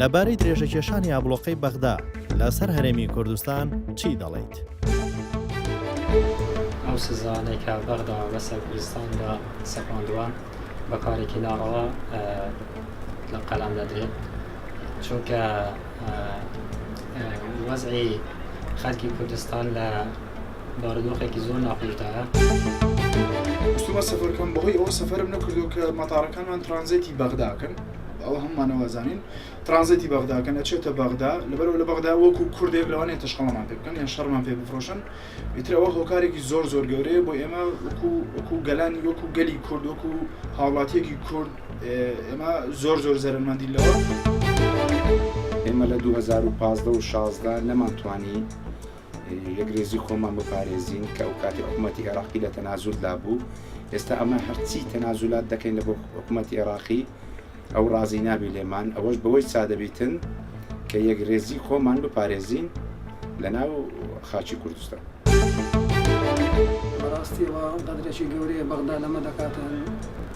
لەبارەی درێژەکێشانی ئابلۆقەی بەغدا لەسەر هەرێمی کوردستان چی دەڵیت؟ ئەو سزانەی کە بەغدا بەسەر کوردستاندا سەپاندووە بە کارێکی ناڕەوا لە قەلام دەدرێت چونکە وەزعی خەلکی کوردستان لە بارودۆخێکی زۆر ناخۆشدایە. ویستومە سەفەرکەم بەهۆی ئەوە سەفەرم نەکردو کە مەتاڕەکانمان ترانزێتی بەغداکەن ئەوە هەمومانەوازانین ترانزێتی بەغداکەن ئەچێتە بەغدا لەبەرەوە لە بەغدا وەکو کوردێک لەوانەیە تەشخەڵەمان پێ بکەن یان شەڕمان پێ بفرۆشن ئیترەوە هۆکارێکی زۆر زۆر گەورەیە بۆ ئێمە وەکو وەکو گەلانی وەکو گەلی کورد وەکو هاوڵاتیەکی کورد ئێمە زۆر زۆر زەرمەندی لەوە ئێمە لە 2015 و 16 نەمانتوانی یەکرێزی خۆمان بپارێزین کە ئەو کاتی حکوومەتتی عێراقی لە تەنازول دابوو ئێستا ئەمە هەرچی تەنازولات دەکەین لە بۆ حکوومەتتی عێراقی ئەو ڕازی نابی لێمان ئەوەش بەوەی سادەبیتن کە یەکرێزی خۆمان بپارێزین لە ناو خاچی کوردستان. بەڕاستیەوە قەدرێکی گەورەیە بەغدا لەمە دەکاتن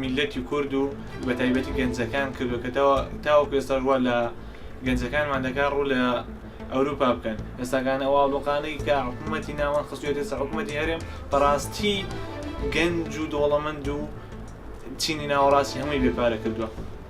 میللەتی کورد و بە تایبەتی گەنجەکان کردو کە تاوەکو ئێستاش وا لە گەنجەکانمان دەکات ڕوو لە ئەوروپا بکەن ئێستاگانە ئەو ئاڵۆقانەی کە حکوومەتی ناوان خستێتی سە حکوومەتی هەرێم بەڕاستی گەنج و دۆڵەمەند و چینی ناوەڕاستی هەمووی بێپارە کردووە